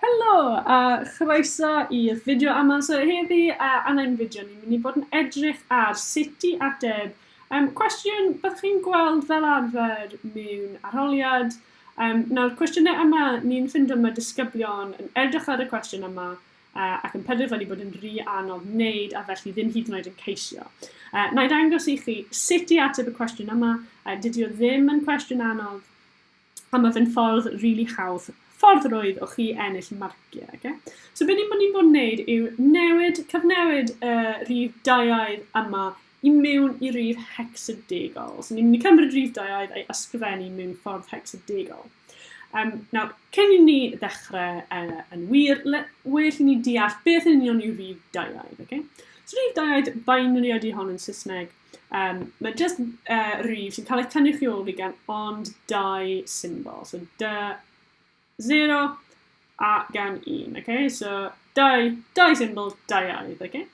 Helo a chroeso i'r fideo yma. So heddi a yn ein fideo ni'n mynd i bod yn edrych ar sut i ateb um, cwestiwn byddwch chi'n gweld fel arfer mewn arholiad. Um, nawr, cwestiynau yma, ni'n ffindo mae disgyblion yn edrych ar y cwestiwn yma uh, ac yn penderfynu bod yn rhy anodd wneud a felly ddim hyd yn oed yn ceisio. Uh, na i dangos i chi sut i ateb y cwestiwn yma. Uh, dydy o ddim yn cwestiwn anodd, A mae fe'n ffordd rili hawdd, ffordd rwydd o chi ennill marciau. Okay? So be ni'n bod ni'n bod yn neud yw newid, cyfnewid y uh, rhif daiaidd yma i mewn i rif hexadegol. So ni'n mynd i cymryd rhif daiaidd a'i ysgrifennu mewn ffordd hexadegol. Um, nawr, cyn i ni ddechrau uh, yn wir, le, well i ni deall beth yn union yw rhif daiaidd. Okay? So rhif daiaidd, binary ydy hon yn Saesneg, Um, mae just uh, rif sy'n cael ei tynnu chi ôl fi gan ond dau symbol. So dy 0 a gan 1. Okay? So dau, dau symbol, dau aidd. Okay?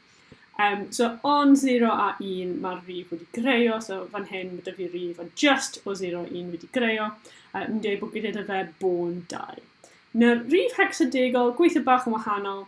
Um, so ond 0 a 1 mae'r rif wedi greio, so fan hyn mae dyfu rif ond just o 0 a 1 wedi greio. Uh, yn dweud bod gyda fe bôn 2. Nawr, rif hexadegol, gweithio bach yn wahanol,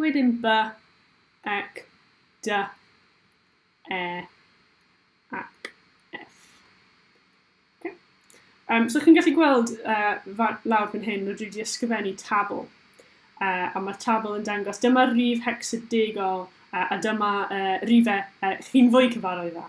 Wedyn by, ec, dy, e, ac ef. Okay. Um, so chi'n gallu gweld uh, lawr fan hyn, rydw i wedi ysgrifennu tabl. Uh, a mae'r tabl yn dangos, dyma'r rif hecsadegol uh, a dyma uh, rifau uh, chi'n fwy cyfarwydd â.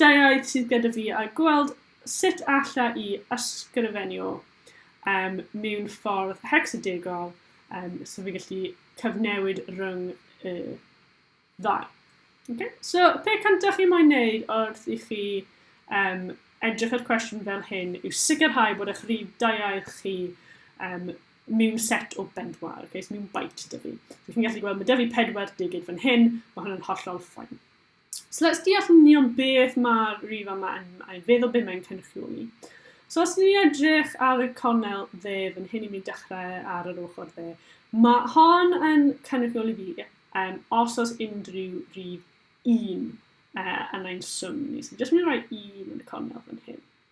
Deuaidd sydd gyda fi a gweld sut alla i ysgrifennu o um, mewn ffordd hecsadegol um, so fi gallu cyfnewid rhwng y uh, ddau. Okay? So, pe cyntaf chi moyn wneud wrth i chi um, edrych ar cwestiwn fel hyn yw sicrhau bod eich rhif daiau chi um, mewn set o bedwar, okay? so mewn byte dyfu. So, chi'n gallu gweld, mae dyfu pedwar digid fan hyn, mae hwnna'n hollol ffain. So let's deall yn union beth mae'r rif yma yn ei fedd o beth mae'n cynrychioli. So os ni'n edrych ar y cornel dde fan hyn i mi dechrau ar yr ochr dde, mae hon yn cynrychioli fi um, os oes unrhyw rif 1 uh, yn ein swm ni. So jyst mynd i roi 1 yn y cornel fan hyn.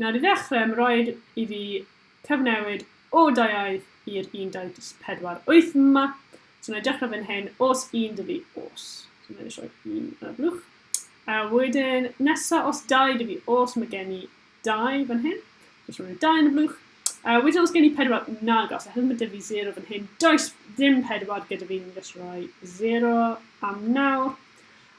Nawr i ddechrau, mae'n rhaid i fi cyfnewid o dau aeth i'r 1.48 yma. So wna i dechrau fan hyn, os un dy fi, os. So wna i roi un yn y blwch. A wedyn, nesa, os dau dy fi, os mae gen i dau fan hyn. So rhoi dau yn y blwch. A wedyn, os gen i pedwar, nag os. Oherwydd mae dy fi 0 fan hyn. Does ddim pedwar gyda fi, ni'n just rhoi 0 am nawr.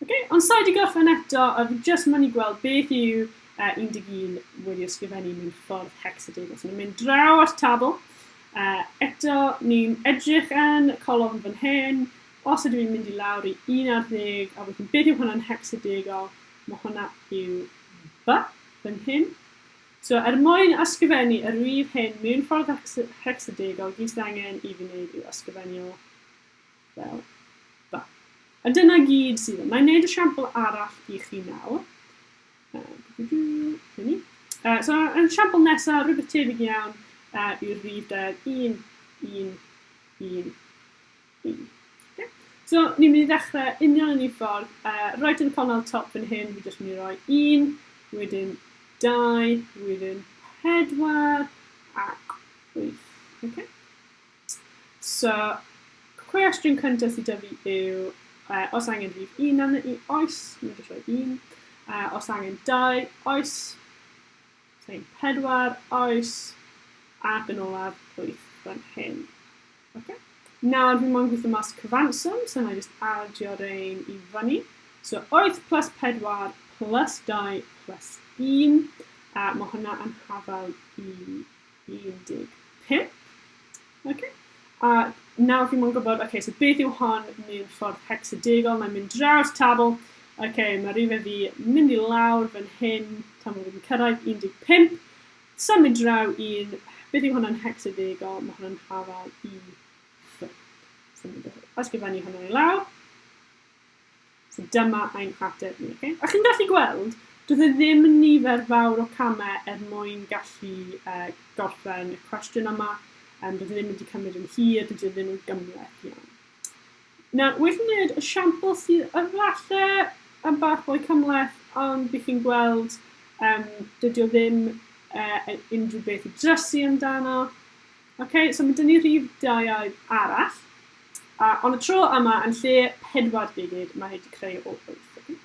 Oce, ond sai 'di gorffen eto, a fi jyst yn mynd i gweld beth yw uh, 11 wedi ysgrifennu mewn ffordd hexadegol. So ni'n mynd draw at tabl. Uh, eto, ni'n edrych yn colofn fan hyn. Os ydw i'n mynd i lawr i 11, a wedyn beth yw hwnna'n hexadegol? Mae hwnna yw B fan hyn. So er mwyn ysgrifennu y rif hyn mewn ffordd hexadegol, gyd sydd angen i fi wneud yw ysgrifennu o Fel 'na. A dyna gyd sydd. Wna i wneud esiampl arall i chi nawr. Uh, so, yn esiampl nesaf, rhywbeth tebyg iawn uh, i'r rif deg, 1, 1, 1, 1. So, ni'n mynd i ddechrau union yn ei ffordd. Uh, right yn y cornel top yn hyn, fi jyst mynd i roi 1, wedyn 2, wedyn 4, ac 8. Okay? So, cwestiwn cyntaf sydd 'da fi yw, uh, os angen rhif un arno i, oes, mae'n jyst rhoi un. Uh, os angen dau, oes. Os angen pedwar, oes. Ac yn olaf, wyth fan hyn. Okay. Nawr, fi mo'n gweithio mas cyfanswm, so na i just adio rein i fyny. So, oes plus pedwar plus dau plus un. A mae hwnna yn hafal i 15. Okay. A nawr fi mwyn gwybod, okay, so beth yw hon mewn ffordd hexadegol? Mae'n mynd draw'r tabl. Okay, mae rhywbeth fi mynd i lawr fan hyn, tan bod fi'n cyrraedd 15. Symud draw un, beth yw hwnna'n hexadegol? Mae hwnna'n hafal i ffyn. Ysgrifennu hwnna i lawr. So dyma ein hateb ni. Okay? A chi'n gallu gweld, doedd e ddim yn nifer fawr o camau er mwyn gallu uh, gorffen y cwestiwn yma. Um, doedd e ddim wedi cymryd yn hir, doedd e ddim yn gymleth iawn. Nawr, wedi wneud y siampl sydd yfalle yn bach mwy cymleth, ond bych chi'n gweld um, dydy o ddim uh, unrhyw beth i drysu amdano. Ok, so mae dyn ni rhif daiau arall. A, ond y tro yma, yn lle 4 gigid, mae hyd i creu o 8.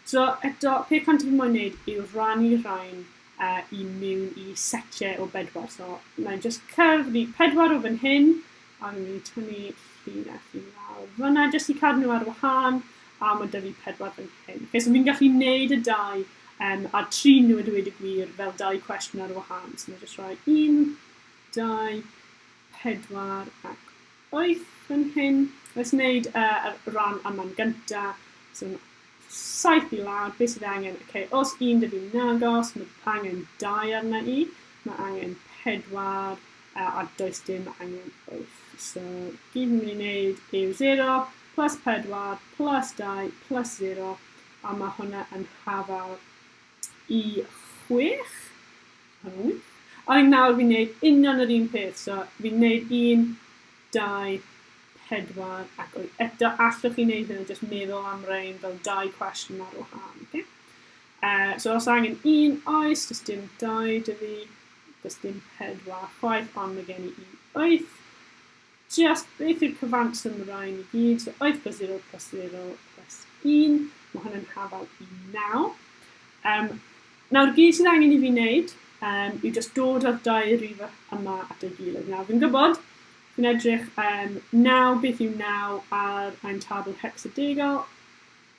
So eto, pe cant fi moyn wneud yw rannu rhain uh, i mewn i setiau o bedwar. So mae'n just cyfri pedwar o fan hyn, a fi'n mynd i tynnu llun a llun lawr fyna, jyst i cadw nhw ar wahân, a mae dyfu pedwar fan hyn. Okay, so fi'n gallu neud y dau um, a tri nhw y dweud y gwir fel dau cwestiwn ar wahân. So mae'n just rhoi un, dau, pedwar ac wyth fan hyn. Let's wneud uh, ran am man gynta. So, saith i lawr, beth sydd angen? Okay, os un dydw i'n agos, mae angen dau arna i, mae angen pedwar, uh, a does dim angen wyth. So, gyd ni'n mynd i wneud yw 0 plus pedwar plus dau plus 0, a mae hwnna yn hafal i chwech. Iawn. Ai nawr fi'n neud union yr un peth, so fi'n neud un, dau, pedwar, ac wyth. Eto, allwch chi neud hyn yn jyst meddwl am rein fel dau cwestiwn ar wahân, oce? Uh, so os angen un, oes, does dim dau, dwi, does dim pedwar chwaith, ond mae gen i un wyth. Tries beth yw'r cyfanswm y rhain i gyd, so 8 plus 0 plus 0 plus 1, mae hwn yn hafal i 9. Um, nawr, gyd sydd angen i fi wneud um, yw just dod â'r dau rif yma at ei gilydd. Nawr, fi'n gwybod, fi'n edrych um, 9, beth yw 9 ar ein tabl hexadegal,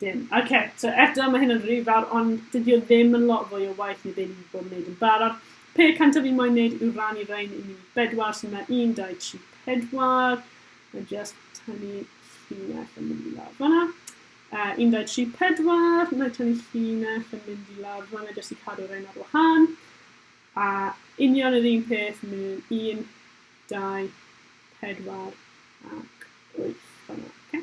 Dim. Ok, so eto mae hyn yn rhy fawr, ond dydy o ddim yn lot fwy o waith neu be ni wedi bod yn neud yn barod. Pe cyntaf fi'n moyn neud yw rannu rhain i ni bedwar, so mae 1, 2, 3, 4. Mae just tynnu llinell yn mynd i lawr fanna. Uh, 1, 2, 3, 4. Mae tynnu llinell yn mynd i lawr fanna jyst i cadw rhain ar wahan. A union yr un peth mewn 1, 2, 4 ac 8 fanna. Okay?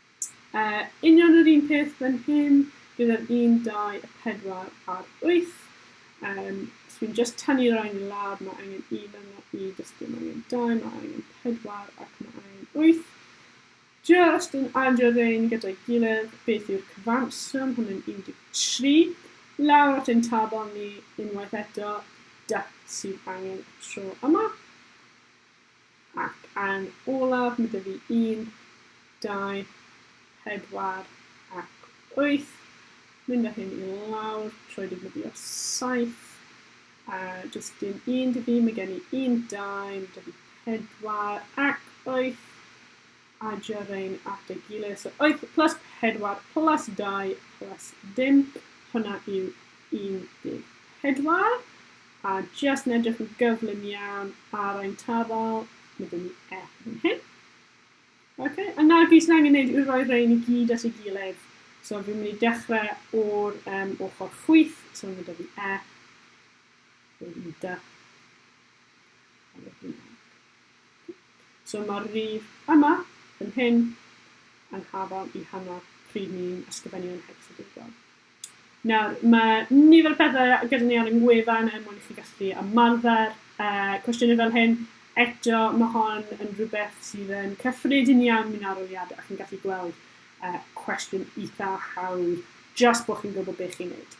Yy, union yr un peth fan hyn, gyda'r un, dau, y pedwar a'r wyth. Um, os fi'n just tynnu rhain i lawr, mae angen i fan yna i dysgu, mae angen dau, mae angen pedwar ac mae angen wyth. Just yn adio rhain gyda'i gilydd, beth yw'r cyfanswm? Hwnnw'n 13. Lawr at ein tabl ni unwaith eto, da sydd angen y tro yma. Ac yn olaf, mae 'da fi un, dau, pedwar ac wyth. Mynd â hyn i lawr trwy defnyddio saith. A jyst dim un dy fi, mae gen i un, dau, mae 'da fi pedwar ac wyth. Adio rein at ei gilydd. So wyth plus pedwar plus dau plus dim. Hwna yw 14. A jyst yn edrych yn gyflym iawn ar ein tafel, mae gen i e yn hyn. Ok, a nawr beth sy'n angen gwneud yw rhoi rhain i gyd at ei gilydd. So fi'n mynd i dechrau o'r um, ochr chwyth, so mae da fi e, wedyn dy, a wedyn e. So mae'r rif yma, yn hyn, yn hafal i hanner pryd ni'n ysgrifennu yn hecsadegiol. Nawr, mae nifer o pethe gyda ni ar ein gwefan er mwyn i chi gallu ymarfer yy cwestiyne fel hyn. Eto, ma' hon yn rhywbeth sydd yn cyffredin iawn mewn arholiad a chi'n gallu gweld yy cwestiwn itha hawdd jyst bo' chi'n gwbod be' chi'n neud.